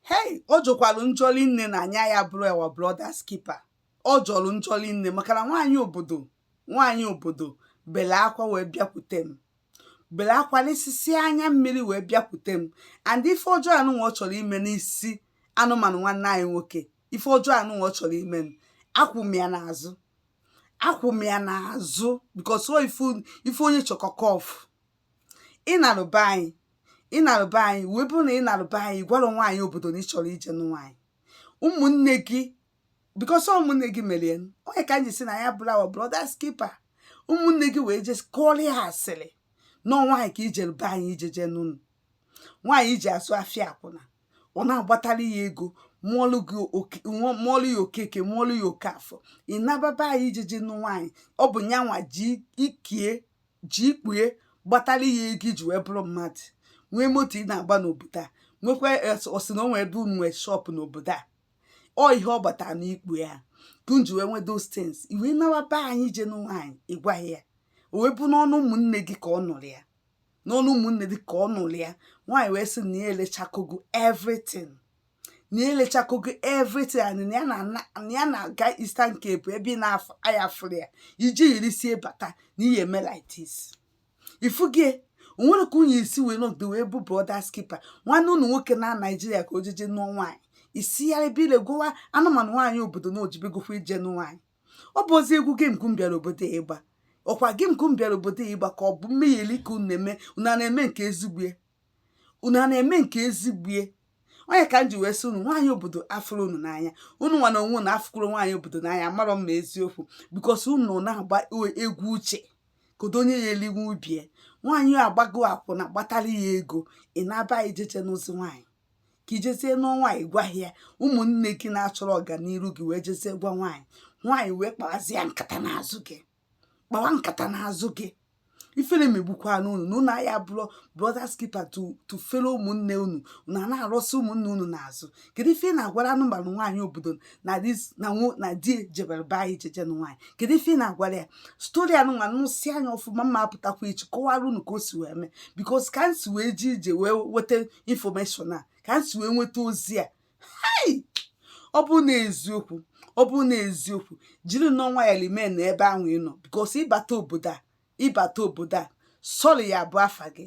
hei ọ jọkwalụ njọ linne na anyị aya abụrụ our brothers keeper ọ jọrọ njọ linne maka na nwaanyị obodo nwaanyị obodo bele akwa wee bịakwute m bele akwa n'isisi anya mmiri wee bịakwute m and ife ọjọọ anụnwa ọ chọrọ ime n'isi anụmanụ nwanne anyị nwoke ife ọjọọ anụnwa ọ chọrọ ime m akwụ m ya n'azụ akwụ m ya n'azụ because ọ ife ife onye chọkọ ka ọ fụ ị nalụ be anyị ị nalụ be anyị wee bụrụ na ị nalụ be anyị ị gwarọ nwaanyị obodo na ị chọrọ ije nụ nwaanyị ụmụnne gị because ụmụnne gị merie nụ. ọ nya ka anyị si na ya bụrụ our brothers keeper ụmụnne gị wee je kọọrọ ya asịrị na nwaanyị ka i jere be anyị ije jee nụọ nwaanyị i ji asụ afịa akwụna ọ na-agbatara gị ego mụọlụ gị oke- mụọ- mụọlụ gị okeke mụọlụ gị okafọ ị naba be anyị ije je nụ nwaanyị ọ bụ nyanwa ji ikie ji ikpu ya gbatara gị ego i ji wee bụrụ mmadụ nwee moto ị na-agba n'obodo a nwekwa ọ sị na o nwere ebe unu nwee shop n'obodo a ọ ihe ọ gbatara n'ikpu ya ka unu ji wee nwee those things i wee nawa be anyị je nụ nwaanyị ị gwaha ya o wee bụ n'ọnụ ụmụnne gị ka ọ nụrụ ya n'ọnụ ụmụnne gị ka ọ nụrụ ya nwaanyị wee sị na ya elechakogo everything na ya elechakogo everything and na ya na- na- na ya na-aga Eastern Cape ebe ị na-aya afụrụ ya iji yiri si bata na ihe e mee like this ifugie onwere ka unyi isi wee nọgide wee bụ brothers keeper nwanne unu nwoke na Nigeria ka o jeje nụọ nwaanyị isi ya ebe ile gụwa anụmanụ nwaanyị obodo na o jebegokwa ije nụ nwaanyị ọ bụzi egwu game ka m bịara obodo a ịgba ọ kwa game ka m bịara obodo a ịgba ka ọ bụ mmegheli ka unu na-eme unu ana-eme nke ezigbo ya unu ana-eme nke ezigbo ya ọ nya ka m ji wee sị unu nwaanyị obodo afụrọ unu n'anya unu nwa na onwe unu afụkwarọ nwaanyị obodo n'anya amarọ m ma eziokwu because unu na-agba e- egwu uche kedu onye ya-elinwu ibe ya nwaanyị a agbago akwụna gbatara gị ego ị naba ije je nụzi nwaanyị ka i jezie n'ọnwa ị gwaha ya ụmụnne gị na-achọrọ ọganiru gị wee jezie gwa nwaanyị nwaanyị wee kpawazie nkata n'azụ gị kpawa nkata n'azụ gị ifere megbukwanụ unu na unu aya abụrụ brothers keeper to to fellow ụmụnne unu unu na-arụsị ụmụnne unu n'azụ kedu ife ị na-agwara anụmanụ nwaanyị obodo na dis na nwo na di jebere be anyị jeje nụ nwaanyị kedu ife ị na-agwara ya story anụnwa nụsị anya ọfụma mma apụtakwa echi kọwara unu ka o si wee mee because ka m si wee ji ije wee weta information a ka m si wee nweta ozi a hei ọ bụ na eziokwu ọ bụ na eziokwu jirinụ nwayọ remain na ebe ahụ ị nọ because ị bata obodo a ị bata obodo a sorry ya-abụ afa gị